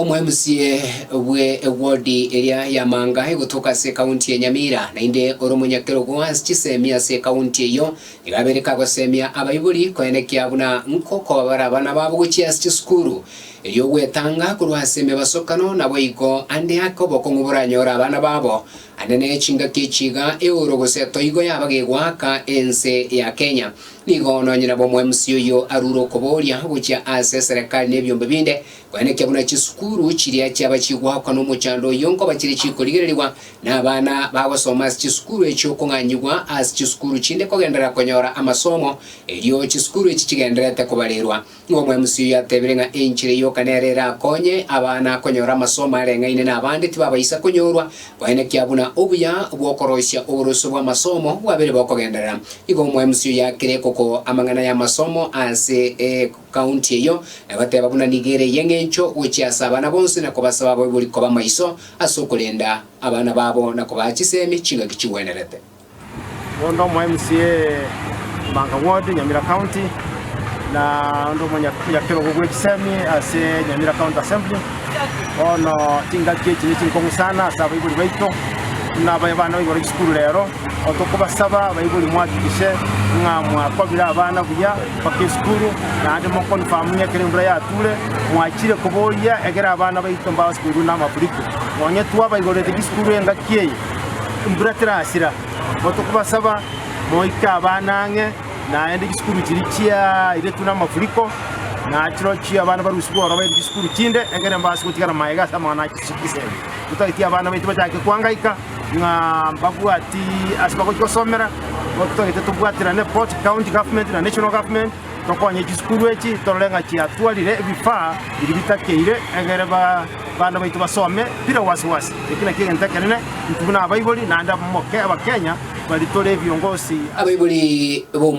Omwemusie bwe ewodi eria ya Manga egotoka ase ekaunti ya Nyamira naende ore omonyakerogo ase chisemi ase ekaunti eyio, nigo abereka gosemia abaibori koenekia buna nkokobara abana babo gochia ase chisukuru, erio ogwetanga korwa ase emebasokano naboigo ande ake obokong'u boranyore abana babo. Ande ne chingaki echi iga eoro gose etoigo yaba gegoaka ense ya Kenya. Nigo nonye nabo omwemusi oyio arure okoboria gochia ase eserekari nebiombe binde Kwenekea buna chisukuru chiria chiaba chigoakwa nomochando oyio nkoba chire chikorigererigwa, na abana bagosoma ase chisukuru echio kong'anyigwa ase chisukuru chinde kogenderera konyora amasomo, erio chisukuru echi chigendererete kobarerwa. Nigo omwe-MC oyio atebire ng'a enchera eyoka nero erakonye abana konyora amasomo areng'aine nabande tibabaisa konyorwa, kwenekea buna obuya bw'okoroisia oborosio bw'amasomo bwabere bokogenderera. Igo omwe-MC oyio akire kokoa amang'ana y'amasomo ase. County eyio, na goteba buna nigo ere y'engencho gochia ase abana bonsi na kobasaba abaibori koba maiso ase okorenda abana babo na kobaa chisemi chingaki chigwenerete. Onde omo mca Mbanga Ward, Nyamira County, na onde omo nyakerogo bwe chisemi ase Nyamira County Assembly. Bono chingaki echi nichinkong'u sana ase abaibori baito, buna abae bana baibore chisukuru rero. Otokobasaba abaibori mwahakikishe ng'a mwakobire abana buya mpaka esukuru, naende moconfirm ng'a ekero embura yature mwachire koboria egere abana baito mbasoirwe namafuriko. Nonye twabaigorerete gisukuru engaki eye, embura terasira, otokobasaba moike abana ang'e naende gisukuru chiri chiairetwe namafuriko nachirochio abana baruswe ororo bairwe gisukuru chinde egere mbase gotigara maega ase amang'ana a chisemi. Totagete abana baito bachake koangaika ng'a mbabwati ase bagochi gosomera, igo totagete tobwaterane both county government na national government, tokonye chisukuru echi torore ng'a chiatwarire ebifaa biria bitakeire egere ba- abana baito basome bire wasi wasi. Eki nakio egento ekenene intwe buna abaibori naende abamoke abakenya bari tore viongozi. Abaibori b'Omwana.